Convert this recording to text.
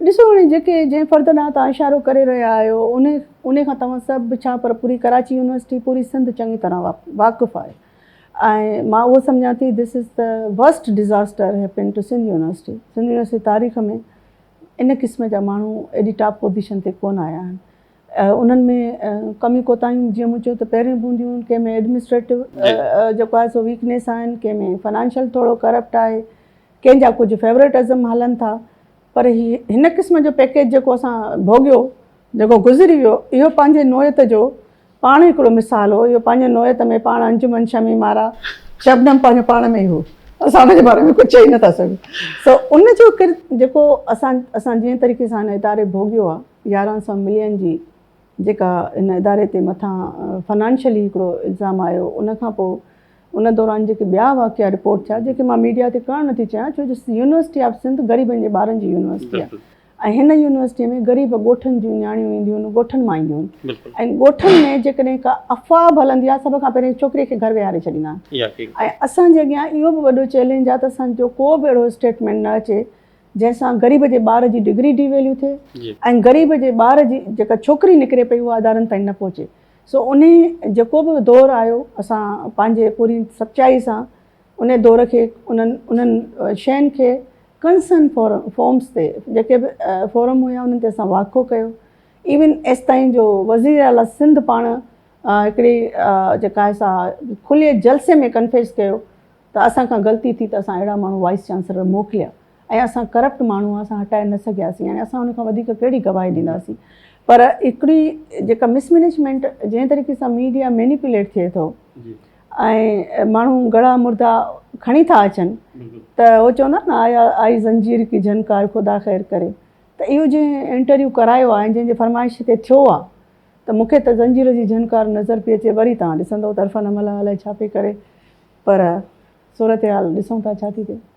ڏسو هاڻي جيڪي جنهن فرد ڏانهن توهان اشارو ڪري رهيا آهيو انهي انهي کان توهان سڀ به ڇا پر پوري ڪراچي يونيورسٽي پوري سنڌ چڱي طرح واقف آهي ۽ مان اهو سمجهان ٿي ڌس از ته worst disaster happened to Sindh university Sindh university تاريخ ۾ ان قسم جا ماڻهو ايڏي ٽاپ پوزيشن تي ڪون آيا آهن انهن ۾ ڪميون ڪوتاهيون جيئن مون چيو ته پهريون به هونديون ڪنهن ۾ ايڊمنسٽريٽو جيڪو آهي سو ويڪنيس آهن ڪنهن ۾ فنانشل ٿورو ڪرپٽ آهي ڪنهن جا ڪجهه فيورٽ ازم هلن ٿا پر هي هن قسم جو پيڪيج جيڪو اسان ڀوڳيو جيڪو گذري ويو اهو پنهنجي نوعيت جو پاڻ هڪڙو مثال هو اهو پنهنجي نوعيت ۾ پاڻ انجمن شمي مارا شبنم پنهنجو پاڻ ۾ ئي هو اسان ان جي باري ۾ ڪجهه چئي نه ٿا سگهون سو ان جو ڪرت جيڪو اسان اسان جنهن طريقي سان هن اداري ڀوڳيو آهي يارهن سؤ ملين جي جيڪا هن اداري تي مٿان فنانشلي هڪڙو الزام آيو ان کان پوء ان دوران جيڪي ٻيا واقعا رپورٽ ٿيا جيڪي مان ميڊيا تي ڪرڻ نٿي چاهيان ڇو جو يونيورسٽي آف سنڌ غريبن جي ٻارن جي يونيورسٽي آهي ۽ هن يونيورسٽي ۾ غريب ڳوٺن جون نياڻيون اينديون آهن ڳوٺن مان اينديون آهن ۽ ڳوٺن ۾ جيڪڏهن ڪا افواهه به هلندي آهي سڀ کان پهرين ڇوڪري کي گهر ويهاري ڇڏيندا آهن ۽ اسان جي اڳيان اهو به وڏو چئلينج آهي ته اسان جو ڪو به اهڙو اسٽيٽمينٽ نه اچي جنهن سان غريب جي ٻار جي ڊگري ڊي ويليو ٿئي ۽ غريب جي ٻار جي جيڪا ڇوڪري نڪري پئي اها ادارن تائين نه پهچي سو انهي جيڪو به دور آيو اسان پنهنجي پوري سچائي سان انهي دور کي انهن انهن شين کي ڪنسن فورمس تي جيڪي به فورم هيا انهن تي اسان واکو ڪيو ايون ايستائين جو وزير اعليٰ سنڌ پاڻ هڪڙي جيڪا سا کلي جلسي ۾ ڪنفيس ڪيو ته اسان کان غلطي ٿي ته اسان اهڙا ماڻهو وائيس چانسلر موڪليا ۽ اسان ڪرپٽ ماڻهو اسان هٽائي نه سگهياسين يعني اسان ان کان وڌيڪ ڪهڙي گواهي ڏينداسين پر هڪڙي جيڪا مس مينيجمينٽ جنهن طريقي سان ميڊيا مينيپوليٽ ٿئي ٿو ۽ ماڻهو ڳڙا مردا کڻي ٿا اچن ته هو چوندا آهن نه آيا آئي زنجير ڪي جهنڪار خدا خير ڪري ته اهو جنهن انٽرويو ڪرايو آهي جنهن جي فرمائش تي ٿيو آهي ته مون کي ته زنجير جي جهنڪار نظر پئي اچي وري توهان ڏسندئو ته عرفان املهه الائي ڇا پئي ڪري پر صورتحال ڏسون ٿا ڇا ٿي ٿئي.